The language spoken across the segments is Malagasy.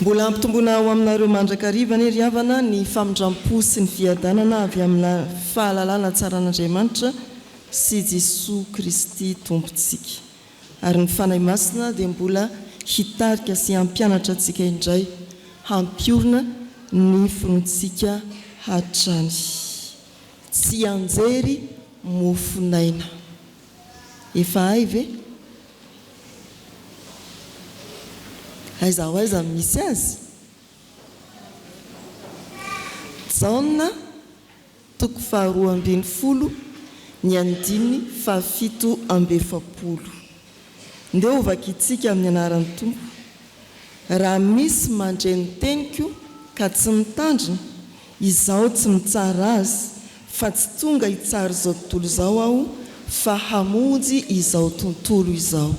Mbola hampitomboina ho aminareo mandrakariva anie ry havana ny famindram-po sy ny fiadanana avy amina fahalalana tsara an'Andriamanitra sy Jesoa Kristy Tompontsika. Ary ny Fanahy Masina dia mbola hitarika sy hampianatra antsika indray hampiorina ny finoantsika hatrany. Tsianjery mofon'aina. Efa hay ve? Aiza ho aiza no misy azy? Jaona toko faharoa ambin'ny folo ny andininy fahafito amby efapolo. Ndeha hovakintsika amin'ny anaran'ny Tompo. Raha misy mandre ny teniko ka tsy mitandrina, izaho tsy mitsara azy Fa tsy tonga hitsara izao tontolo izao aho fa hamonjy izao tontolo izao.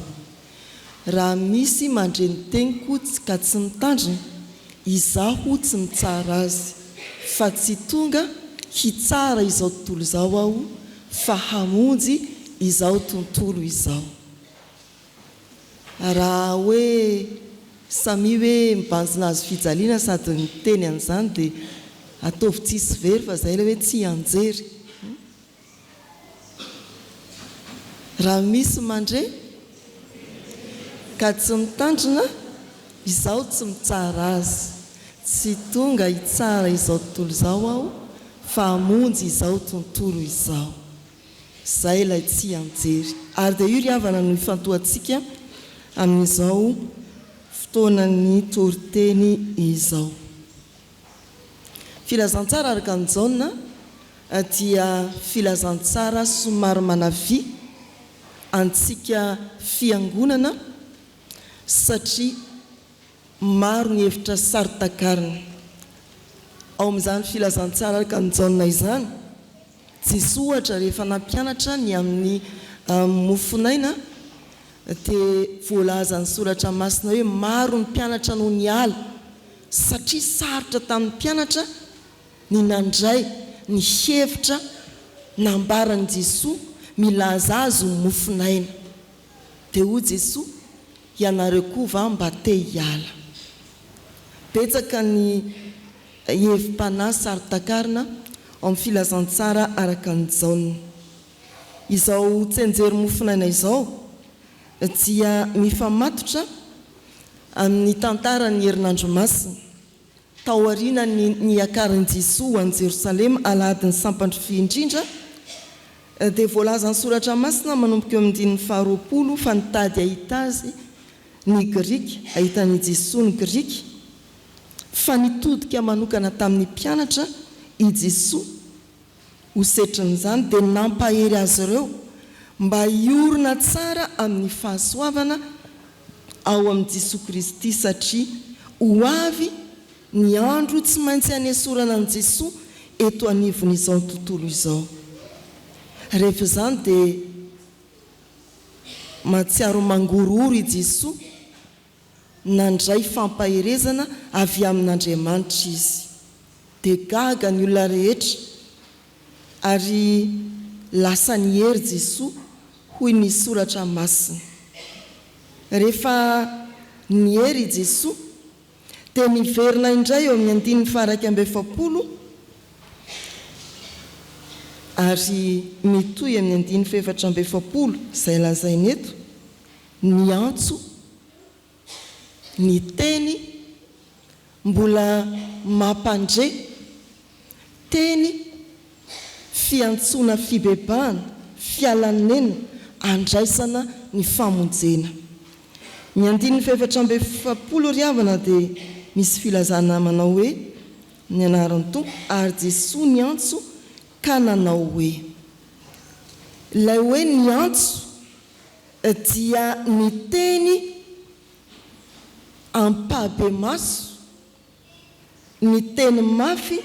Raha misy mandre ny teniko ka tsy mitandrina, izaho tsy mitsara azy, fa tsy tonga hitsara izao tontolo izao aho fa hamonjy izao tontolo izao. Raha hoe samia hoe mibanjina hazo fijaliana sady miteny an'izany dia ataovy tsisy very fa izay ilay hoe tsy hianjery. Raha misy mandre ka tsy mitandrina, izaho tsy mitsara azy. Tsy tonga hitsara izao tontolo izao aho fa hamonjy izao tontolo izao. Izay ilay tsianjery. Ary dia io ry havana no ifantohantsika amin'izao fotoanan'ny toriteny izao. Filazantsara araka an'i Jaona dia filazantsara somary manavia antsika fiangonana satria maro ny hevitra saro-takarina ao amin'izany filazantsara araka an'i Jaona izany Tsisy ohatra rehefa nampianatra ny amin'ny mofonaina dia voalazan'ny soratra masina hoe maro ny mpianatra no niala satria sarotra tamin'ny mpianatra ny nandray ny hevitra nambaran'i Jesoa milaza azy ho mofonaina. Dia hoy Jesoa ianareo koa va mba te hiala? Betsaka ny. hevi-panahy saro-takarina ao amin'ny Filazantsara araka an'i Jaona. Izao tsianjery mofonaina izao dia mifamatotra amin'ny tantaran'ny Herinandro Masina, taorianan'ny niakaran'i Jesoa ho any Jerosalema Alahadin'ny Sampantry Vy Indrindra, dia voalazan'ny Soratra Masina manomboka eo amin'ny andininy faharoapolo fa nitady hahita Azy ny Grika, hahita an'i Jesoa ny Grika, fa nitodika manokana tamin'ny mpianatra i Jesoa. Ho setrin'izany, dia nampahery azy ireo mba hiorina tsara amin'ny fahasoavana ao amin'i Jesoa Kristy, satria ho avy ny andro tsy maintsy hanesorana an'i Jesoa eto anivon'izao tontolo izao. Rehefa izany, dia mahatsiaro mangorohoro i Jesoa. Nandray fampaherezana avy amin'Andriamanitra izy. Dia gaga ny olona rehetra, ary lasa nihery Jesoa hoy ny Soratra Masina. Rehefa nihery i Jesoa, dia niverina indray eo amin'ny andininy faha-iraika amby efapolo ary mitohy amin'ny andininy fahefatra amby efapolo izay lazaina eto, Niantso ny teny mbola mampandre, teny fiantsoana fibebahana, fialanena, andraisana ny famonjena. Ny andininy fahefatra amby efapolo ry havana dia misy filazana manao hoe, Ny anaran'ny Tompo, ary Jesoa niantso ka nanao hoe. Ilay hoe niantso. dia niteny ampahibemaso, niteny mafy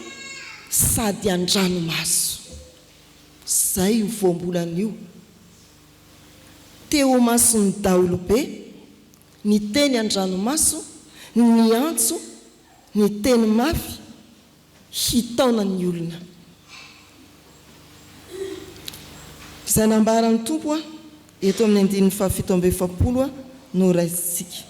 sady an-dranomaso. Izay io voambolana io. Teo imason'ny daholobe, niteny an-dranomaso, niantso, niteny mafy. hitaona ny olona. Izay nambaran'ny Tompo eto amin'ny andininy fahafito amby efapolo no raisintsika.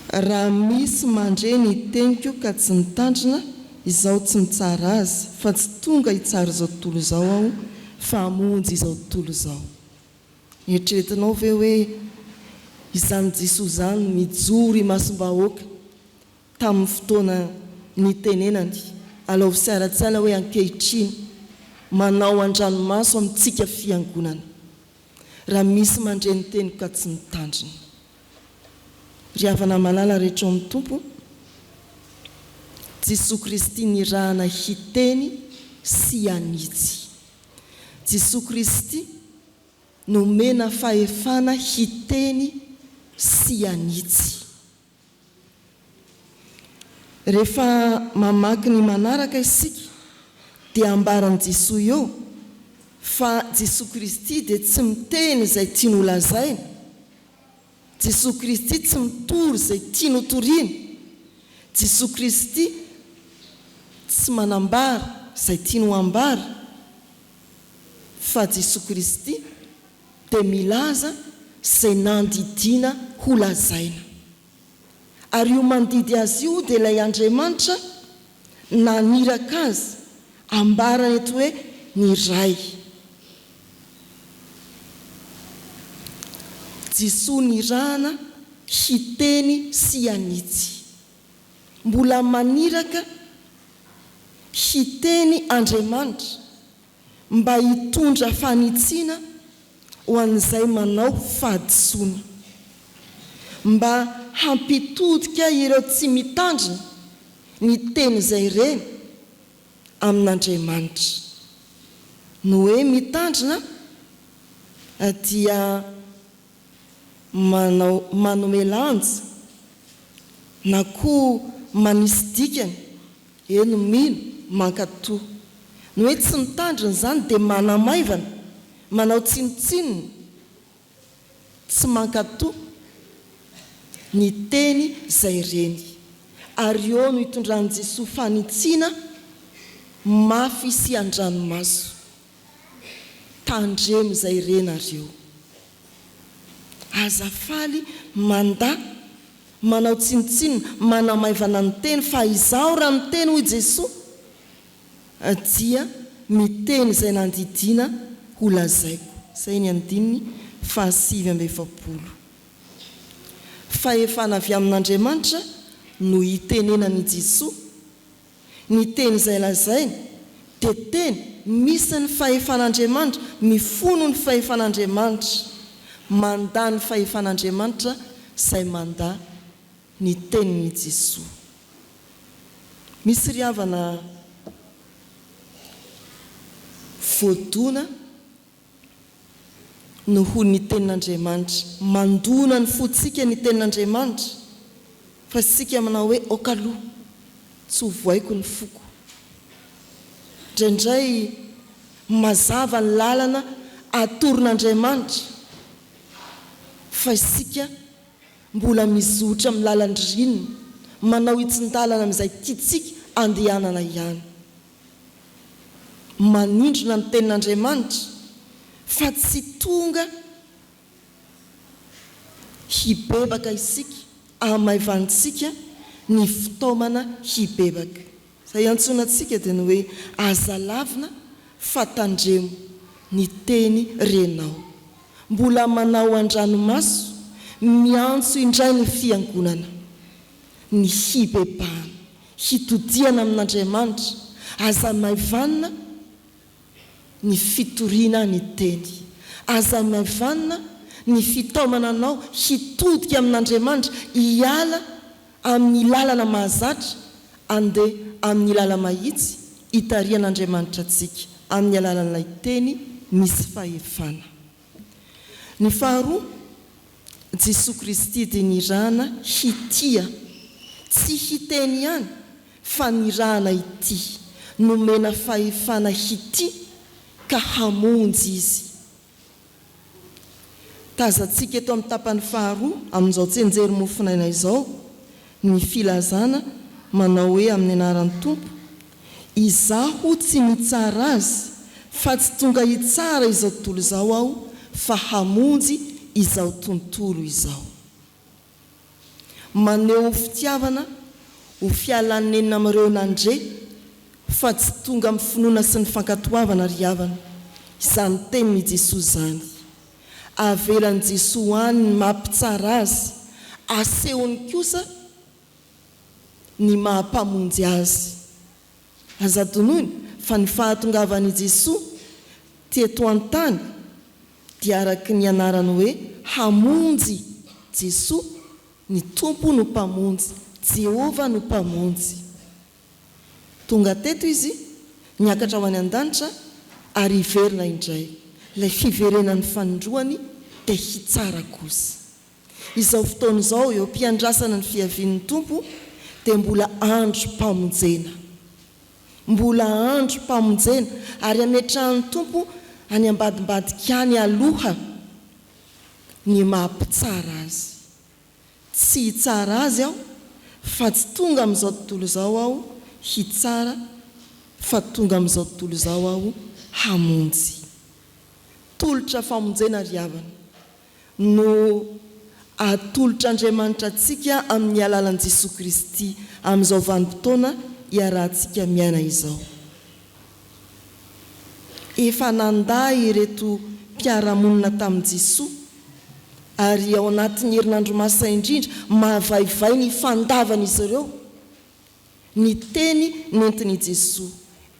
Raha misy mandre ny teniko ka tsy mitandrina, izaho tsy mitsara azy, fa tsy tonga hitsara izao tontolo izao aho, fa hamonjy izao tontolo izao. Eritreretinao ve hoe izany Jisoa izany nijoro imasom-bahoaka tamin'ny fotoana nitenenany alaovy sy ara-tsaina hoe ankehitriny manao an-dranomaso amintsika Fiangonana raha misy mandre ny teniko ka tsy mitandrina? Ry havana malala rehetra ao amin'ny Tompo, Jisoa Kristy nirahana hiteny sy hanitsy. Jesoa Kristy nomena fahefana hiteny sy hanitsy. Rehefa mamaky ny manaraka isika dia ambaran'i Jesoa eo fa Jesoa Kristy dia tsy miteny izay tiany holazaina Jesoa Kristy tsy mitory izay tiany ho toriana. Jesoa Kristy tsy manambara izay tiany ho ambara. Fa Jesoa Kristy dia milaza izay nandidiana ho lazaina. Ary io mandidy Azy io dia ilay Andriamanitra naniraka azy ambarany eto hoe ny Ray. Jesoa nirahana hiteny sy hanitsy. Mbola maniraka hiteny Andriamanitra mba hitondra fanitsiana ho an'izay manao fahadisoana, mba hampitodika ireo tsy mitandrina ny tenin'izay reny amin'Andriamanitra. Ny hoe mitandrina dia. manao manome lanja na koa manisy dikany, eny mino, mankatò. Ny hoe tsy mitandrina izany dia manamaivana, manao tsinontsinona, tsy mankatò ny teny izay reny. Ary eo no itondran'i Jesoa fanitsiana mafy sy an-dranomaso. Tandremo izay re nareo. Aza faly mandà, manao tsinontsinona, manamaivana ny teny fa izaho raha miteny hoy Jesoa dia miteny izay nandidiana ho lazaiko. Izay ny andininy fahasivy amby efapolo. Fahefana avy amin'Andriamanitra no itenenan'i Jesoa. Ny teny izay lazainy dia teny misy ny fahefan'Andriamanitra, mifono ny fahefan'Andriamanitra, mandà ny fahefan'Andriamanitra izay mandà ny tenin'i Jesoa. Misy ry havana voadona. Noho ny Tenin'Andriamanitra. Mandona ny fontsika ny Tenin'Andriamanitra fa isika manao hoe aoka aloha tsy ho voaiko ny foko. Indraindray mazava ny lalana atoron'Andriamanitra fa isika mbola mizotra amin'ny lalan-dry rininy, manao hitsin-dalana amin'izay tiantsika andehanana ihany. manindrona ny tenin'Andriamanitra fa tsy tonga hibebaka isika hamaivanintsika ny fitaomana hibebaka. Izay iantsoana antsika dia ny hoe aza lavina fa tandremo ny teny renao. Mbola manao an-dranomaso miantso indray ny fiangonana ny hibebahana. hitodihana amin'Andriamanitra, aza maivanina ny fitoriana ny Teny, aza maivanina ny fitaomana anao hitodika amin'Andriamanitra, hiala amin'ny lalana mahazatra handeha amin'ny lala-mahitsy hitarihan'Andriamanitra antsika amin'ny alalan'ilay Teny misy fahefana. Ny faharoa, Jesoa Kristy dia nirahana hitia, tsy hiteny ihany fa nirahana hitia, nomena fahefana hitia ka hamonjy Izy. Tazantsika eto amin'ny tapany faharoa amin'izao tsenjery mofonaina izao ny filazana manao hoe amin'ny anaran'ny Tompo, Izaho tsy mitsara azy fa tsy tonga hitsara izao tontolo izao aho fa hamonjy izao tontolo izao. Maneho fitiavana ho fialanenina amin'ireo nandre fa tsy tonga amin'ny finoana sy ny fankatoavana ry havana izany tenin'i Jesoa izany. Avelan'i Jesoa any ny maha mpitsara azy, asehony kosa ny maha Mpamonjy azy. Aza adinoina fa ny fahatongavan' i Jesoa teto an-tany dia araka ny anarany hoe Hamonjy, Jesoa, ny Tompo no Mpamonjy, Jehovah no Mpamonjy. Tonga teto Izy, niakatra ho any an-danitra ary hiverina indray. Ilay fiverenan'ny fanindroany dia hitsara kosa. Izao fotoana izao eo am-piandrasana ny fiavian'ny Tompo dia mbola androm-pamonjena. Mbola androm-pamonjena ary hametrahan'ny Tompo any ambadimbadika any aloha ny maha mpitsara Azy. Tsy hitsara Azy aho fa tsy tonga amin'izao tontolo izao aho hitsara fa tonga amin'izao tontolo izao aho hamonjy. Tolotra famonjena ry havana. no atolotr'Andriamanitra antsika amin'ny alalan'i Jesoa Kristy amin'izao vanim-potoana iarahantsika miaina izao. Efa nandà ireto mpiara-monina tamin'i Jesoa ary ao anatin'ny herinandro masina indrindra, mavaivay ny fandavan'izy ireo. Ny teny nentin'i Jesoa,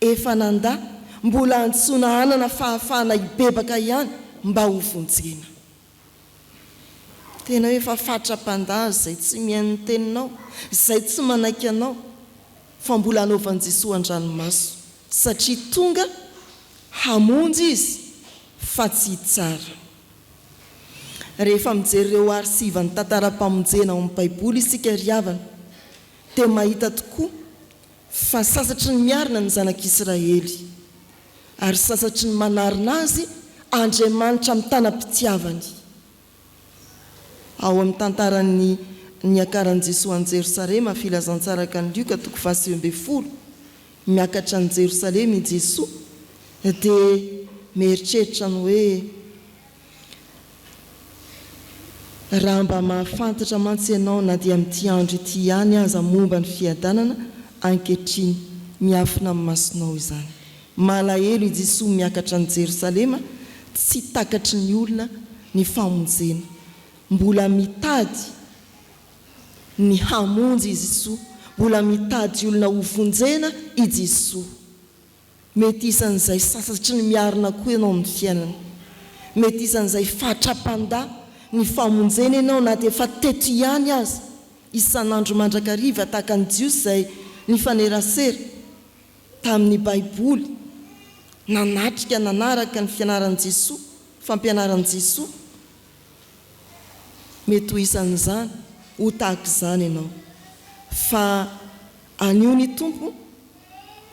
efa nandà, mbola antsoina hanana fahafahana hibebaka ihany mba ho vonjena. Tena hoe efa fatra-pandà izay tsy mihaino ny teninao, izay tsy manaiky anao, fa mbola anaovan'i Jesoa an-dranomaso, satria tonga hamonjy Izy fa tsy hitsara. Rehefa mijery ireo arsivan'ny tantaram-pamonjena ao amin'ny Baiboly isika ry havana, Dia mahita tokoa fa sasatry ny miarina ny zanak'Israely, ary sasatry ny manarina azy Andriamanitra mitanam-pitiavany. Ao amin'ny tantaran'ny niakaran'i Jesoa an'i Jerosalema, Filazantsarakan'i Lioka, toko faha sivy ambin'ny folo, miakatra any Jerosalema i Jesoa, dia mieritreritra ny hoe, Raha mba mahafantatra mantsy ianao na dia amin'ity andro ity ihany aza momba ny fiadanana ankehitriny miafina amin'ny masonao izany. Malahelo i Jesoa miakatra any Jerosalema tsy takatry ny olona ny famonjena. Mbola mitady ny hamonjy i Jesoa, mbola mitady olona ho vonjena i Jesoa. Mety isan'izay sasatry ny miarina koa ianao amin'ny fiainana. Mety isan'izay fatra-pandà ny famonjena ianao na dia efa teto ihany aza, isan'andro mandrakariva tahaka ny Jiosy izay nifanerasera tamin'ny Baiboly, nanatrika nanaraka ny fianaran'i Jesoa, fampianaran'i Jesoa. Mety ho isan'izany, ho tahaka izany ianao. Fa. Anio ny Tompo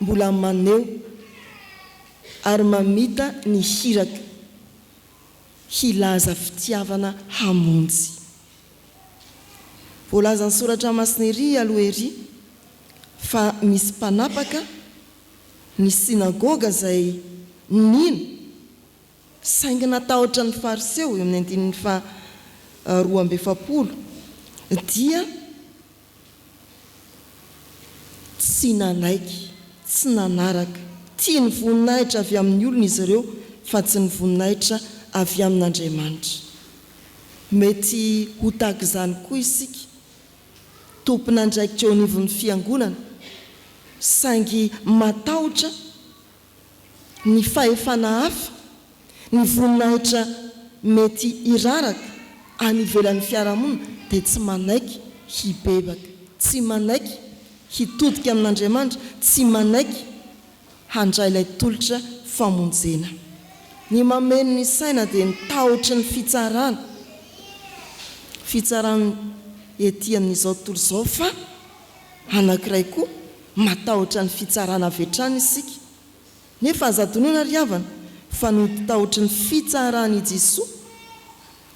mbola maneho ary mamita ny hirako hilaza fitiavana hamonjy. Voalazan'ny soratra masina ery aloha ery fa misy mpanapaka ny synagoga izay nino saingy natahotra ny fariseo eo amin'ny andininy faha roa amby efapolo dia Tsy nanaiky, tsy nanaraka. Tia ny voninahitra avy amin'ny olona izy ireo, fa tsy ny voninahitra avy amin'Andriamanitra. Mety ho tahaka izany koa isika, tompon'andraikitra eo anivon'ny fiangonana, saingy matahotra ny fahefana hafa, ny voninahitra mety hiraraka any ivelan'ny fiarahamonina dia tsy manaiky hibebaka, tsy manaiky hitodika amin'Andriamanitra, tsy manaiky handray ilay tolotra famonjena. Ny mameno ny saina dia ny tahotry ny fitsarana, fitsarana ety amin'izao tontolo izao fa Anankiray koa, matahotra ny fitsarana avy hatrany isika. Nefa aza adinoina ry havana fa ny ody tahotry ny fitsaran' i Jesoa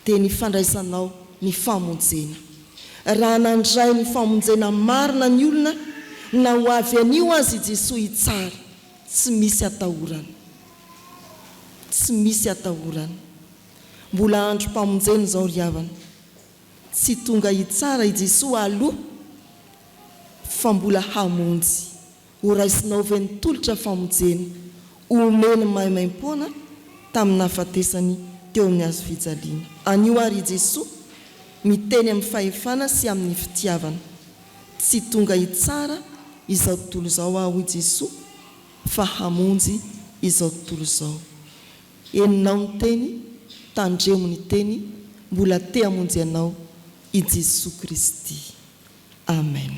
dia ny fandraisanao ny famonjena. Raha nandray ny famonjena marina ny olona na ho avy anio aza i Jesoa hitsara, tsy misy atahorana. Tsy misy atahorana. Mbola androm-pamonjena izao ry havana. Tsy tonga hitsara i Jesoa aloha fa mbola hamonjy. Horaisinao ve ny tolotra famojeny omeny maimaimpoana tamin'ny nahafatesany teo amin'ny hazo fijaliana? Anio ary i Jesoa miteny amin'ny fahefana sy amin'ny fitiavana. Tsy tonga hitsara izao tontolo izao aho, hoy Jesoa, fa hamonjy izao tontolo izao. Henonao ny teny, tandremo ny teny, mbola te hamonjy anao i Jesoa Kristy. Amen.